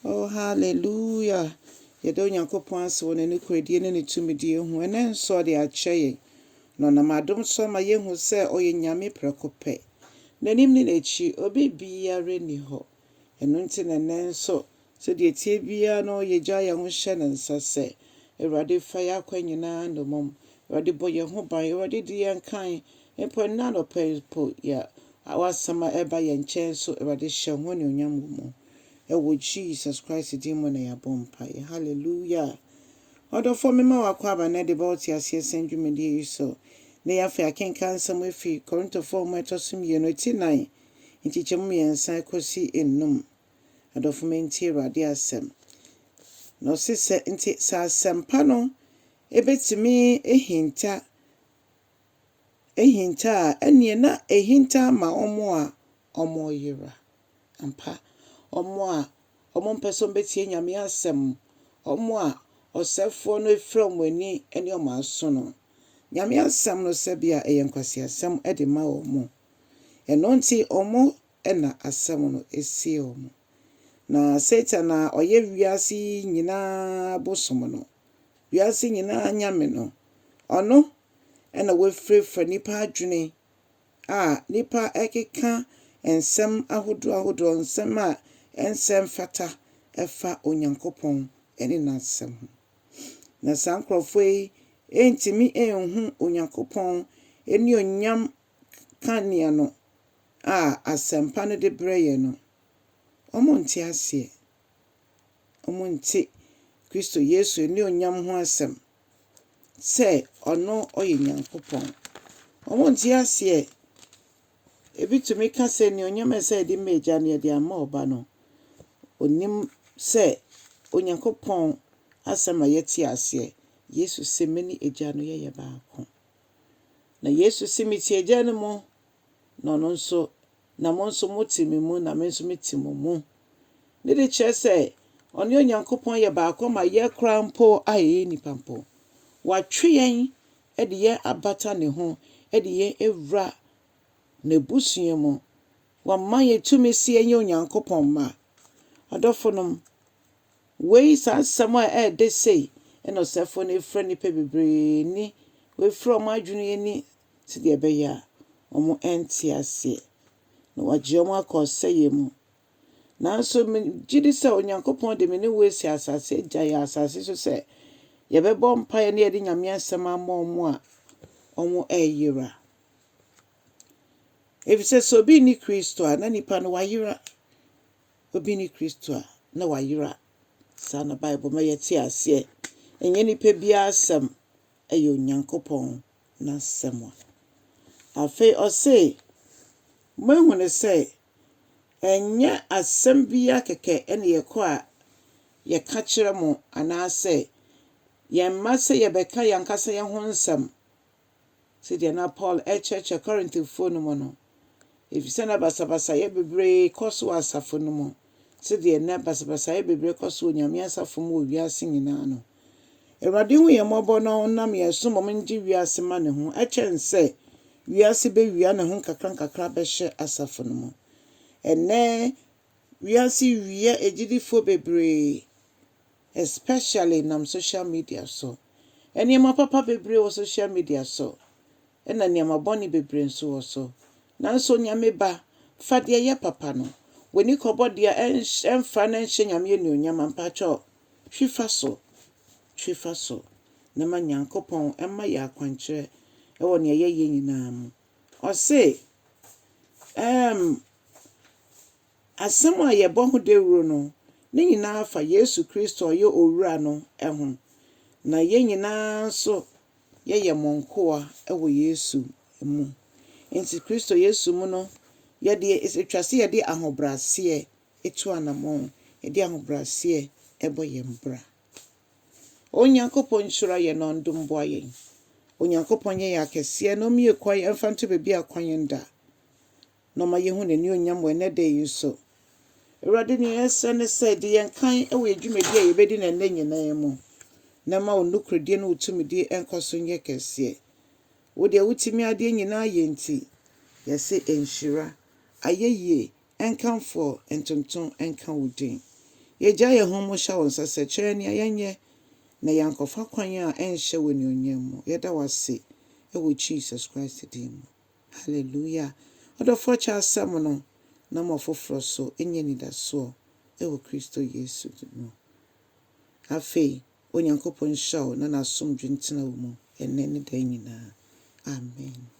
Oh hallelujah Yɛda Onyankopɔn ase wɔ N'anokoredie ne Ne tumidie ho ɛnɛ nso a Ɔde akyɛ yɛn Na Ɔnam adom so ama yɛahu sɛ Ɔyɛ Nyame prɛko pɛ N'anim ne N'akyi obi biara nni hɔ Ɛno nti na ɛnɛ nso sɛdeɛ ɛteɛ biara no yɛgya yɛn ho hyɛ Ne nsa sɛ Awurade fa yɛn akwan nyinaa nnommum Awurade bɔ yɛn ho ban Awurade di yɛn kan Mpo ɛnnɛ anɔpa yi mpo, yɛ a w'asɛm a ɛreba yɛn nkyɛn nso, Awurade hyɛ ho anuonyam wɔ mu. Ɛwɔ Jesus Christ din mu na yɛabɔ mpaeɛ. Hallelujah! Ɔdɔfoɔ, mema w'akwaaba nnɛ de ba wo te aseɛ sɛm dwumadie yi so. Nnɛ yi afei akenkan nsɛm afi Korintofoɔ nwoma ɛtɔ so mmienu, ɛti nnan, nkyekyɛmu mmiɛnsa kɔsi nnum. Adɔfo me ntie Awurade asɛm. Na ɔse sɛ, nti sɛ asɛmpa no ɛbɛtumi ahinta ahinta a, ɛnneɛ na ahinta ma wɔn a wɔreyera. Ampa, wɔn a wɔmpɛ sɛ wɔbɛtie Nyame asɛm, wɔn a ɔsɛefoɔ no afira wɔn ani ne wɔn aso no, Nyame asɛm no sɛbea ɛyɛ nkwaseasɛm de ma wɔn. Ɛno nti, wɔn na asɛm no sie wɔn. Na Satan a ɔyɛ wiase yi nyinaa bosom no, wiase nyinaa Nyame no. Ɔno na wafirafira nnipa adwene a nnipa rekeka nsɛm ahodoɔ ahodoɔ, nsɛm a ɛnsɛ mfata ɛfa Onyankopɔn ne N'asɛm ho. Na saa nkorɔfoɔ yi ɛntumi ɛnhu Onyankopɔn annuonyam kanea no a asɛmpa no de brɛ yɛn no. Wɔnte aseɛ. wɔnte Kristo Yesu anuonyam ho asɛm sɛ ɔno ɔyɛ Nyankopɔn. Wɔnte aseɛ. Ebi tumi ka sɛ anuonyam a ɛsɛ yɛde ma Agya no yɛde ama Ɔba no. Ɔnim sɛ Onyankopɔn asɛm a yɛte aseɛ. Yesu se me ne Agya no yɛyɛ baako. Na Yesu se metie Agya no mu. na ɔno nso, na mo nso mote me mu, na me nso mete mo mu. Ne de kyerɛ sɛ ɔne Onyankopɔn yɛ baako ma yɛ koraa mpo a yɛyɛ nnipa mpo. Watwe yɛn de yɛn abata ne ho de yɛn awura n'abusua mu. Wama yɛn tumi sɛ yɛnyɛ Onyankopɔn mma. Adɔfonom, wei saa nsɛm a ɛredɛ sei na ɔsɛfoɔ no afira nnipa bebree ni, wafira wɔn adwene ani sɛdeɛ ɛbɛyɛ a wɔrente aseɛ, na wagye wɔn akɔ ɔsɛeɛ mu. Nanso megye di sɛ Onyankopɔn de me ne wo asi asase agya yɛ asase so sɛ yɛbɛbɔ mpaeɛ na yɛde Nyame asɛm ama wɔn a wɔreyera. Efisɛ sɛ obi nni Kristo a, na nipa no wayera. Obi nni Kristo a, na wayera. Saa na Bible ma yɛte aseɛ. Ɛnyɛ nipa biara asɛm, ɛyɛ Onyankopɔn n'asɛm a. Afei ɔse, moahu no sɛ ɛnyɛ asɛm biaa kɛkɛ ne yɛkɔ a yɛka kyerɛ mo anaasɛ yɛmma sɛ yɛbɛka yɛankasa yɛho nsɛm, sɛdeɛ na Paul ɛrekyerɛkyerɛ Korintofoɔ no mu no. efisɛ na basabasayɛ bebree kɔ so wɔ asafo no mu sɛdeɛ nnɛ basabasayɛ bebree kɔ so wɔ Nyame asafo mu wɔ wiase nyinaa no. Awurade hu yɛn mmɔbɔ na ɔnam yɛn so mmom ngye wiase ma ne ho ɛkyɛn sɛ wiase bɛwia ne ho nkakrankakra bɛhyɛ asafo no mu. Ɛnnɛ wiase wia agyidifoɔ bebree especially nam social media so. Nneɛma papa bebree wɔ social media so na nneɛma bɔne bebree nso wɔ so. Nanso Onyame ba, fa deɛ ɛyɛ papa no, w'ani kɔbɔ deɛ a ɛnhyɛ, ɛmfa na ɛnhyɛ Nyame anuonyam a, mpakyɛw, twi fa so, twi fa so, na ma Nyankopɔn mma yɛn akwankyerɛ wɔ nea yɛyɛ nyinaa mu. Ɔse, ɛɛm. Asɛm a yɛbɔ ho dawuru no, ne nyinaa fa Yesu Kristo a ɔyɛ Owura no ho, na yɛn nyinaa nso yɛyɛ mo nkoa wɔ Yesu mu. Enti Kristo Yesu mu no, yɛde, ɛtwa sɛ yɛde ahobrɛaseɛ tu anammɔn, yɛde ahobrɛaseɛ bɔ yɛn bra. O Onyankopɔn, nhyira yɛn na ɔndom boa yɛn. Onyankopɔn nyɛ yɛn akɛseɛ na ɔmmue kwan mfa nto baabi a kwan nda. na ɔma yehu n'anuonyam wɔ ɛnnɛ da yi nso. Awurade, nea yɛsrɛ ne sɛ di yɛn kan wɔ yɛn dwumadi a yɛbɛdi no ɛnnɛ nyinaa mu, na ma wo nokorɛdie ne wo tumidie nkɔ so nyɛ kɛseɛ. Wo deɛ wotumi adeɛ nyinaa yɛ nti, yɛse nhyira, ayɛyie, nkamfoɔ, ntontom nka wo din. Yɛgya yɛn ho mu hyɛ wo nsa sɛ kyerɛ yɛn nea yɛnyɛ na yɛankɔfa kwan a ɛnhyɛ wo anuonyam mu. Yɛda wo ase wɔ Jesus Christ din mu. Hallelujah! Ɔdɔfoɔ kyɛ asɛm no na ma ɔfoforɔ nso nya anidasoɔ wɔ Kristo Yesu mu. Afei, Onyankopɔn nhyira wo na N'asomdwe ntena wo mu ɛnnɛ ne daa nyinaa. Amen.